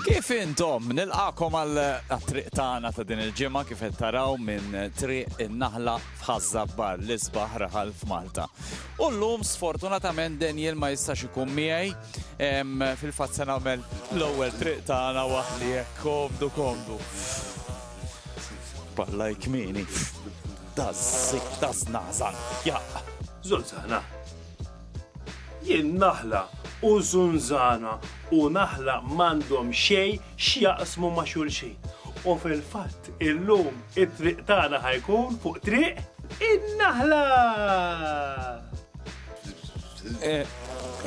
Kif intom? Nilqakom għal triq tagħna ta' din il-ġimgħa kif qed taraw minn triq in-naħla f'Ħaż-Żabbar l-isbaħ raħal f'Malta. U llum sfortunatament Daniel ma jistax ikun miegħi em, fil-fatt se nagħmel l-ewwel triq tagħna waħdi hekk komdu komdu. Balla jkmini. Dażżi, dażnażan. Ja. Zolzana. Jien naħla u żunżana u naħla m'għandhom xejn x'jaqsmu ma' xulxin. U fil-fatt illum it-triq tagħna ħa jkun fuq triq in-naħla!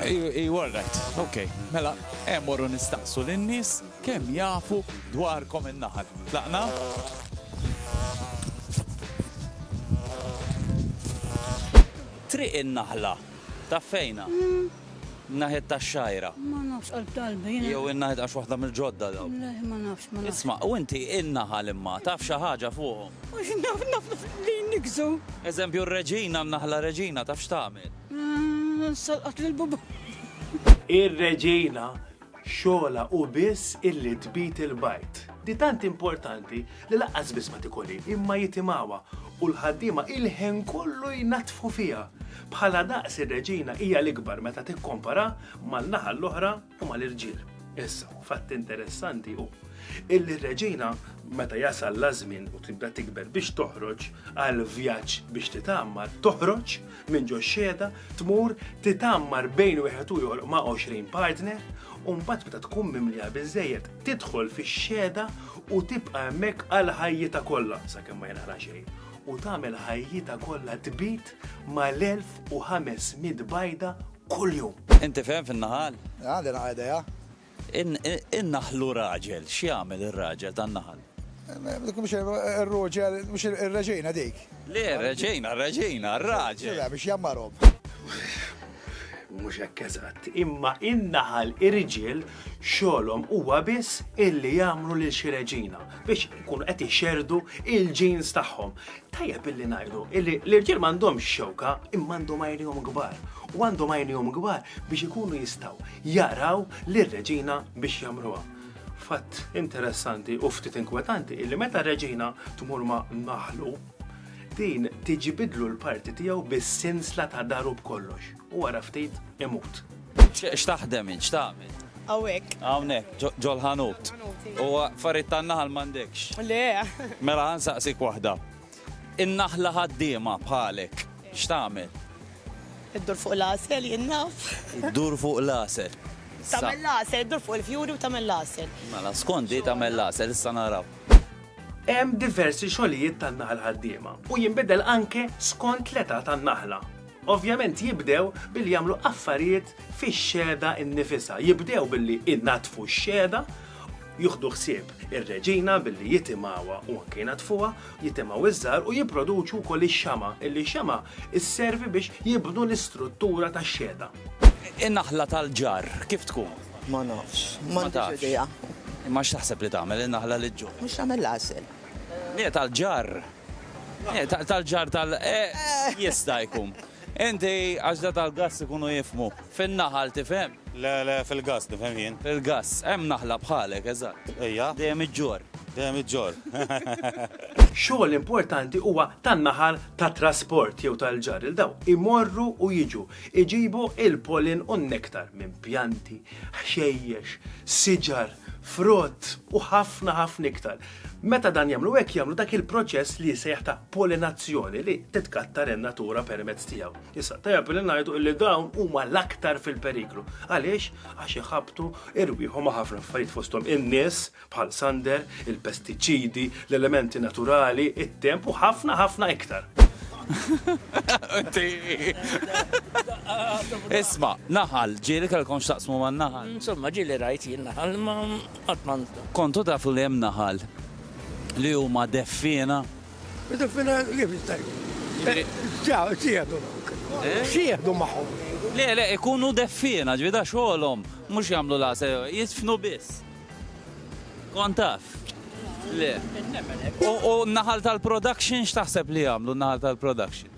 Iva all right, ok. Mela, eh morru nistaqsu lin-nies kemm jafu dwarkom in-naħal. Tlaqna? Triq in-Naħla, taf fejnha? Naħiet tax-Xgħajra. Ma nafx qalb qalbi jiena. Jew in-naħa tgħax waħda mill-ġodda dawk. Le, ma nafx, ma nafx. Isma', u inti in-naħal imma, taf xi ħaġa fuqhom? Naf, naf li jniggżu. Eżempju r-Reġina, n-Naħla Reġina, taf x'tagħmel? Salqat lill-bubun. Ir-Reġina Xogħolha hu biss illi tbid il-bajd. Di tant importanti li lanqas biss ma tikolhi, imma jitimgħuha, u l-ħaddiema il-ħin kollu jnaddfu fiha. Bħala daqs ir-reġina hija l-ikbar meta tikkompara man-naħa l-oħra u mal-irġiel. Issa, fatt interessanti hu illi r-reġina meta jasal l-ażmien u tibda tikber biex toħroġ għal vjaġġ biex titgħammar, toħroġ minn ġo x-xhieda, tmur titgħammar bejn wieħed u jogħloq ma' għoxrin partner, u mbagħad meta tkun mimliha biżżejjed tidħol fix-xhieda u tibqa' hemmhekk għal ħajjitha kollha sakemm ma jinqala' xejn, u tagħmel ħajjitha kollha tbit mal-1500 bajda kuljum. Inti fehem fin-naħal? Għandi naqra idea. In-naħlu raġel, x'jagħmel ir-raġel tan-naħal? Dik mhux ir-ruġel, mhux ir-reġina dik. Le, reġina, r-reġina, r-raġel. Le, biex jgħammarhom. Mhux hekk eżatt, imma in-naħal irġiel xogħolhom huwa biss illi jagħmlu lil xi reġina biex ikunu qed ixerrdu il-genes tagħhom. Tajjeb illi ngħidu illi l-irġiel m'għandhomx xewka imma għandhom għajnihom kbar u għandhom għajnihom kbar biex ikunu jistgħu jaraw lir-reġina biex jagħmluha. Fatt interessanti u ftit inkwetanti illi meta reġina tmur ma' naħlu din tiġibidlu l-parti tiegħu bis-sinsla ta' daru b'kollox. u wara ftit imut. X'taħdem int, x'tagħmel? Awek. Hawnhekk, ġol ħanut. U farid tan-naħal m'għandekx. Le. Mela ħansaqsik waħda. In-naħla ħaddiema bħalek, x'tagħmel? Iddur fuq l-asel, jinnaf. Iddur fuq l-asel. Tamel l-asel, iddur fuq il-fjuri u tamel l-asel. Mela, skondi tamel l-asel, issa naraw. Hemm diversi xogħlijiet tan-naħal ħaddiema u jinbidel anke skont l-età tan-naħla. Ovvjament jibdew billi jagħmlu affarijiet fix-xehda nnifisha. Jibdew billi jnaddfu x-xehda, jieħdu ħsieb ir-reġina billi jitimgħuha u anke jnaddfuha, jitimgħu iż-żahar u jipproduċu wkoll ix-xama' illi x-xama' sservi biex jibnu l-istruttura tax-xehda. In-naħla tal-ġarr kif tkun? Ma nafx. M'għandix idea. Imma x'taħseb li tagħmel in-naħla li ġġorr? Mhux tagħmel l-għasel. Le tal-ġarr. Tal-ġar tal jista' jkun. Inti għax da tal-gass ikunu jifmu. Fin-naħal tifhem? Le, le, fil-gass nifhem jien. Fil-gass, hemm naħla bħalek, eżatt. Ejja. Dejjem iġġorr. Dejjem iġġorr. Xogħol importanti huwa tan-naħal tat-trasport jew tal-ġar il dawn imorru u jiġu, iġibu l-pollen u n-nektar minn pjanti, ħxejjex, siġar, frott u ħafna ħafna iktar. Meta dan jagħmlu hekk jagħmlu dak il-proċess li jsejjaħ ta' pollinazzjoni li titkattar in-natura permezz tiegħu. Issa tajjeb li ngħidu li dawn huma l-aktar fil-periklu. Għaliex? Għax iħabtu irwieħu ma' ħafna affarijiet fosthom in-nies bħal sander, il-pestiċidi, l-elementi naturali, it-temp u ħafna ħafna iktar. Isma, naħal, ġieli tal-konx taqsmu man naħal. Insomma, ġieli rajt jien naħal, ma Qatt ma nista'. Kontu tafu li hemm naħal li huma deffiena? Deffiena kif jista' jkun? Sieħdu. Sieħdu magħhom. Le, le, ikunu deffiena, ġifieri da xogħolhom, mhux jagħmlu l-għasel, jidfnu biss. Kont taf? Le. U n-naħal tal-production x'taħseb li jagħmlu n-naħal tal-production?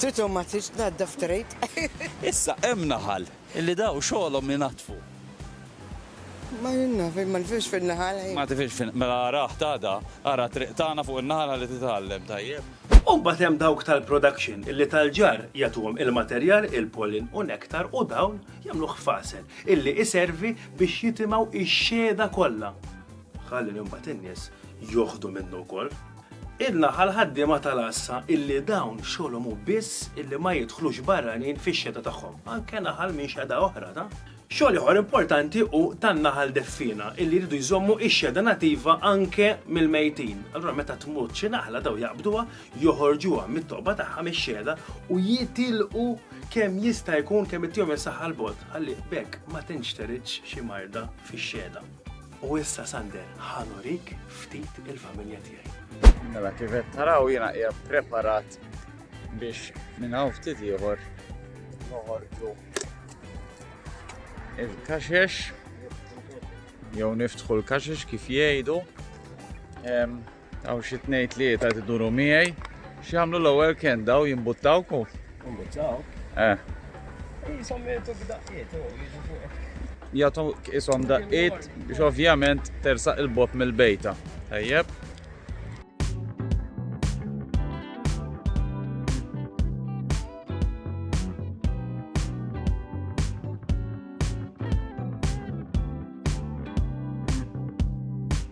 Tutu ma tridx tnaddaf trid. Issa hemm naħal illi daw xogħolhom inaddfu. Ma jien naf, ma nifhimx fin-naħal ħin. Ma tifhimx fin mela arah t'għada, ara t-triq tagħna fuq in-naħal ħalli titgħallem, tajjeb? U mbagħad hemm dawk tal-production illi tal-ġarr jagħtuhom il-materjal, il-pollen u nektar u dawn jagħmluh f'għasel illi iservi biex jitimgħu x-xhieda kollha ħalli mbagħad in-nies joħdu minnu wkoll. Idna għall-ħaddiema tal-għassa illi dawn xogħolhom hu biss illi ma jidħlux barranin fix-xeta tagħhom, anke naħal minn xeda oħra ta'. Xogħol ieħor importanti hu tan-naħal deffiena illi jridu jżommu x-xeda nativa anke mill-mejtin. Allura meta tmut xi naħla daw jaqbduha, joħorġuha mit-toqba tagħha mix-xeda u jitilqu kemm jista' jkun kemm ittihom is-saħħa 'l bogħod ħalli b'hekk ma tinxteridx xi marda fix-xeda. U issa Sander, ħanurik ftit il-familja tiegħi. Mela kif qed taraw jiena hija preparat biex minn hawn ftit ieħor noħorġu il-kaxex jew niftħu l-kaxex kif jgħidu. Hawn xi tnejn tlieta qed iduru miegħi. X'jagħmlu l-ewwel kien daw jimbuttawku? Imbuttaw? Eh. Jisom jgħidu b'daqqiet, jiġu fuq. Jagħtu ishom daqqiet biex ovvjament tersaq il-bot mill-bejta. Tajjeb.